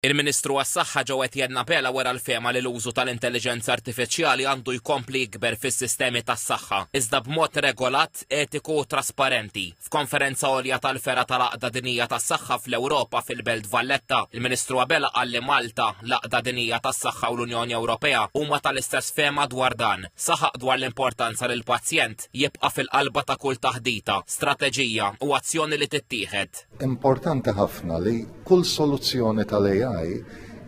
Il-Ministru għas-Saħħa Joe Etienne Abela wera l-fehma li l-użu tal-intelliġenza artifiċjali għandu jkompli jikber fis-sistemi tas-saħħa, iżda b'mod regolat, etiku u trasparenti. F'konferenza għolja tal-fergħa tal-Għaqda Dinjija tas-Saħħa fl-Ewropa fil-Belt Valletta, il-Ministru Abela qal li Malta, l-Għaqda Dinjija tas-Saħħa u l-Unjoni Ewropea huma tal-istess fehma dwar dan. Saħaq dwar l-importanza li l-pazjent jibqa' fil-qalba ta' kull taħdita, strateġija u azzjoni li tittieħed. Importanti ħafna li kull soluzzjoni tal-AI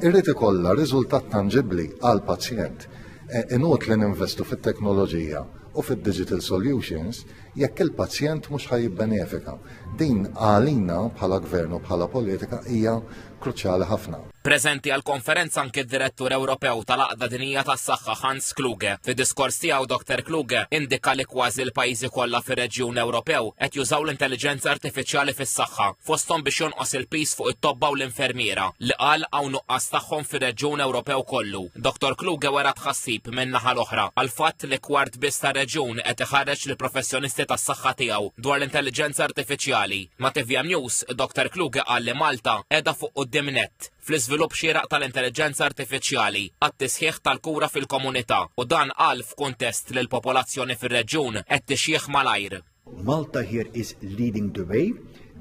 irrid ikollha riżultat tanġibbli għal pazjent. E, inut li ninvestu fit-teknoloġija u fid-digital solutions jekk il-pazjent mhux ħaj jibbenefika. Din għalina bħala gvern u bħala politika hija kruċjali ħafna. Preżenti għall-konferenza anke d-Direttur Ewropew tal-Għaqda Dinjija tas-Saħħa Hans Kluge. Fid-diskors tiegħu Dr. Kluge indika li kważi l-pajjiżi kollha fir-reġjun Ewropew qed jużaw l-intelliġenza artifiċjali fis-saħħa, fosthom biex jonqos il-piż fuq it-tobba u l-infermiera, li qal hawn nuqqas tagħhom fir-reġjun Ewropew kollu. Dr. Kluge wera tħassib min-naħa l-oħra għall-fatt li kwart biss tar-reġjun qed iħarreġ lill-professjonisti tas-saħħa tiegħu dwar l-intelliġenza artifiċjali. Ma' tvm News, Doktor Kluge qal li Malta qiegħda fuq quddiem nett fl-iżvilupp xieraq tal-intelliġenza artifiċjali għat-tisħiħ tal-kura fil-komunità u dan qal f'kuntest li l-popolazzjoni fir-reġjun qed tixjieħ malajr. Malta here is leading the way.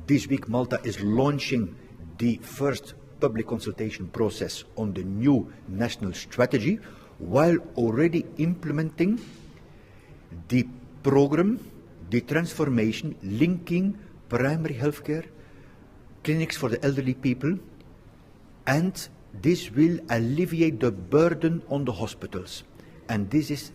This week Malta is launching the first public consultation process on the new national strategy while already implementing The program, the transformation linking primary healthcare clinics for the elderly people and this will alleviate the burden on the hospitals and this is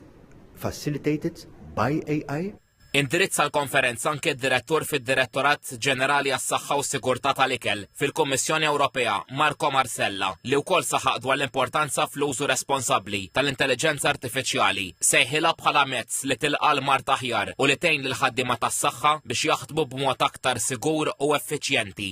facilitated by AI. Indirizza l-konferenza anke d-direttur fid-Direttorat Ġenerali għas-Saħħa u Sigurtà tal-Ikel, fil-Kummissjoni Ewropea, Marco Marsella, li wkoll saħaq dwar l-importanza fl-użu responsabbli tal-intelliġenza artifiċjali, sejħilha bħala mezz li tilqa' l-mard aħjar u li tgħin lill-ħaddiema tas-saħħa biex jaħdmu b'mod aktar sigur u effiċjenti.